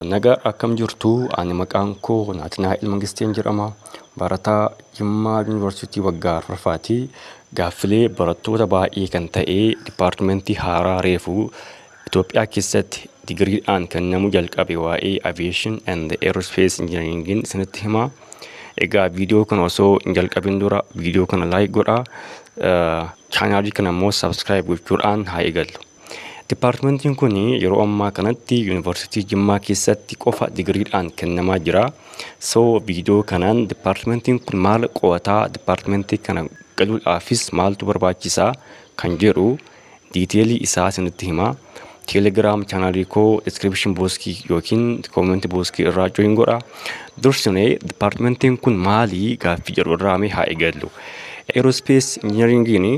Naga akkam jirtu ani maqaan koo Naatinaa'el Mangisteen jedhama. Barataa Jimmaa Yuunivarsiitii waggaa arfaffaati. Gaaffilee barattoota baay'ee kan ta'e dipaartimentii haaraa reefu Itoophiyaa keessatti digiriidhaan kennamu jalqabe waa'ee aviation and aerospace engineeringin isinitti hima. Egaa viidiyoo kana osoo hin jalqabin dura viidiyoo kana like godha. Chaanaalii kana immoo subscribe gochuudhaan haa eegallu. Dippaartimentiin kun yeroo ammaa kanatti Yuunivarsiitii Jimmaa keessatti qofa digiriidhaan kennamaa jira. So viidiyoo kanaan dippaartimentiin kun maal qo'ataa dippaartimentii kana galuudhaafis maaltu barbaachisaa kan jedhu diiteelii isaa isinitti hima. Teelegiraam chaanaalii koo diskiripshin booskii yookiin koomenti booskii irraa join godha. Dursinee dippaartimentiin kun maalii gaaffii jedhu irraa mee haa eegallu. Eerospees injinariingiin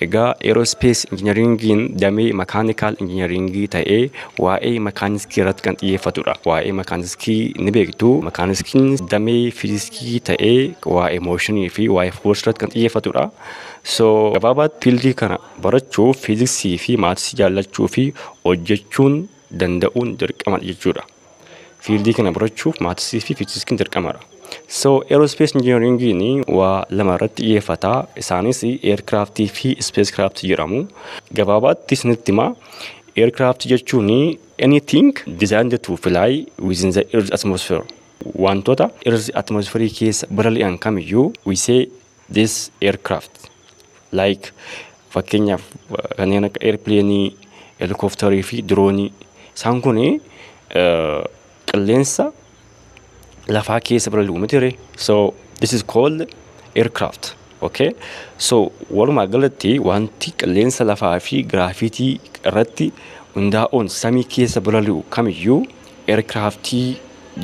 Egaa Aerospace Engineering'n damee Mechanical Engineering ta'ee waa'ee makaaniskii irratti kan xiyyeeffatudha. Waa'ee makaaniskii ni beektu. Makaaniskiin damee fiiziskii ta'ee waa'ee mooshinii fi waa'ee foorsi irratti kan xiyyeeffatudha. So gabaabaatti fiildii kana barachuuf fiiziksii fi maatisii jaallachuu fi hojjechuun danda'uun dirqamadha jechuudha. Fiildii kana barachuuf maatisii fi fiizikiin dirqamadha. So aerospace engineeringiin waa lama irratti xiyyeeffata. Isaanis aircraft fi spacecraft jedhamu. Gabaabaatti isinitti hima. Aircraft jechuun anything designed to fly within the earth atmosphere. Wantoota earth atmosphere keessa balali'an kamiyyuu we say this aircraft like fakkeenyaaf kanneen akka airpleenii helikoptarii fi diroonii isaan kun qilleensa lafaa keessa balali'u miti ree so this is called aircraft okay so walumaa galatti wanti qilleensa lafaa fi giraafitii irratti hundaa'uun samii keessa balali'u kamiyyuu aircraftii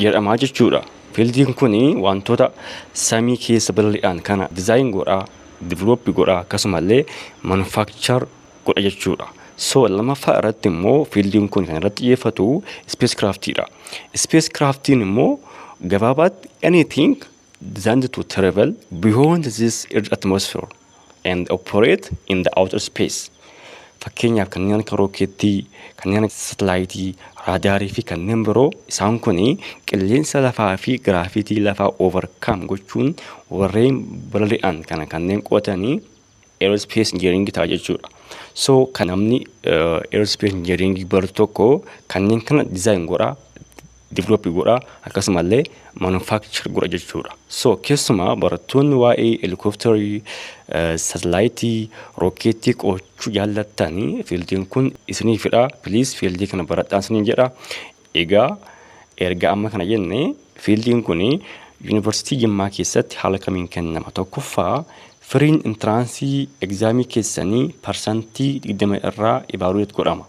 jedhamaa jechuudha. Fiildiin kun wantoota samii keessa balali'an kana design godha, develop godha akkasumallee manufacture godha jechuudha. So lamaffaa irratti immoo fiildiin kun kan irratti xiyyeeffatu space craft dha. Space craftiin immoo gabaabaatti anything designed to travel beyond this earth atmosphere and operate in the outer space. Fakkeenyaaf kanneen akka rookeettii, kanneen akka satalaayitii, raadaarii fi kanneen biroo isaan kun qilleensa lafaa fi giraafitii lafaa overcome gochuun warreen balali'an kana kanneen qo'atanii aerospace engineering ta'a jechuudha. So kan namni aerospace engineering baru tokko kanneen kana design godha develop godha akkasumallee manufacture godha jechuudha. So keessumaa barattoonni waa'ee helikopterii, satalaayitii, rookeettii qo'achuu jaallattan fiildiin kun isiniifidha. Please fiildii kana baradhaan isiniin jedha. Egaa erga amma kana jenne fiildiin kun yuunivarsiitii Jimmaa keessatti haala kamiin kennama? Tokkoffaa firiin intiraansii egzaamii keessanii parsantii 20 irraa evaluate godhama.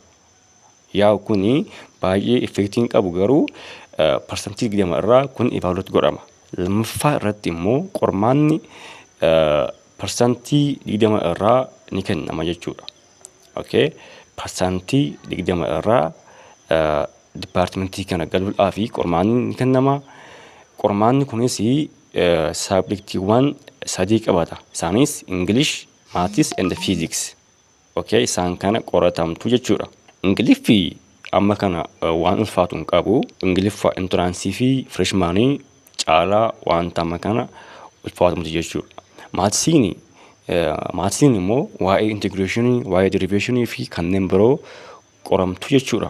Yaa kuni baay'ee effektii hin qabu garuu parsantii 20 irraa kun evaluate godhama. Lammaffaa irratti immoo qormaanni parsantii 20 irraa ni kennama jechuudha. Okay. Parsantii 20 irraa dipaartimentii kana galuudhaa fi qormaanni ni kennama. Qormaanni kunis saabjektiiwwan sadii qabata. Isaanis English, Maths and Physics. Okay, isaan kana qoratamtu jechuudha. Ingiliffi amma kana waan ulfaatu hin qabu. Ingiliffa intiraansii fi fireshmaanii caalaa wanta amma kana ulfaatu miti jechuudha. Maatsiin maatsiin immoo waa'ee intigireeshinii, waa'ee deriveeshinii fi kanneen biroo qoramtu jechuudha.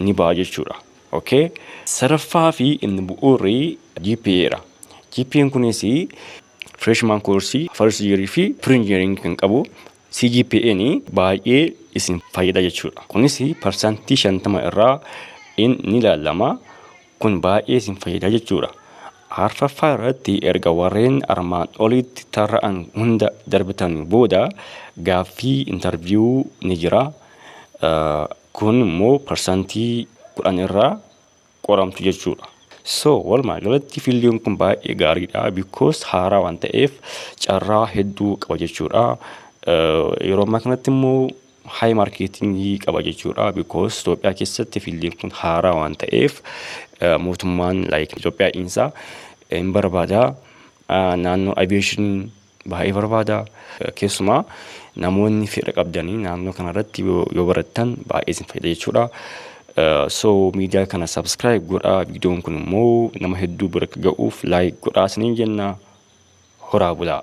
ni ba'a jechuudha. ok Sadaffaa fi inni bu'uurri GPA dha. GPAn kunis freshman course, first year fi pre-engineering kan qabu CGPAn baay'ee isin fayyada jechuudha. Kunis parsantii 50 irraa in ni ilaalama. Kun baay'ee isin fayyada jechuudha. Arfaffaa irratti erga warreen armaan oliitti tarra'an hunda darbitan booda gaaffii interview ni jira. Kun immoo parsantii 10 irraa qoramtu jechuudha. So walumaa galatti fiildiin kun baay'ee gaariidha because haaraa waan ta'eef carraa hedduu qaba jechuudha. Yeroo ammaa kanatti immoo haay maarkeetingii qaba jechuudha because Itoophiyaa keessatti fiildiin kun haaraa waan ta'eef mootummaan like Itoophiyaa dhiinsaa hin barbaada naannoo aviation baay'ee barbaada. Keessumaa namoonni fedha qabdanii naannoo kanarratti yoo yoo barattan baay'ee isin fayyada jechuudha. So miidiyaa kana subscribe godhaa viidiyoon kun immoo nama hedduu bira akka ga'uuf like godhaa isiniin jenna horaa bulaa.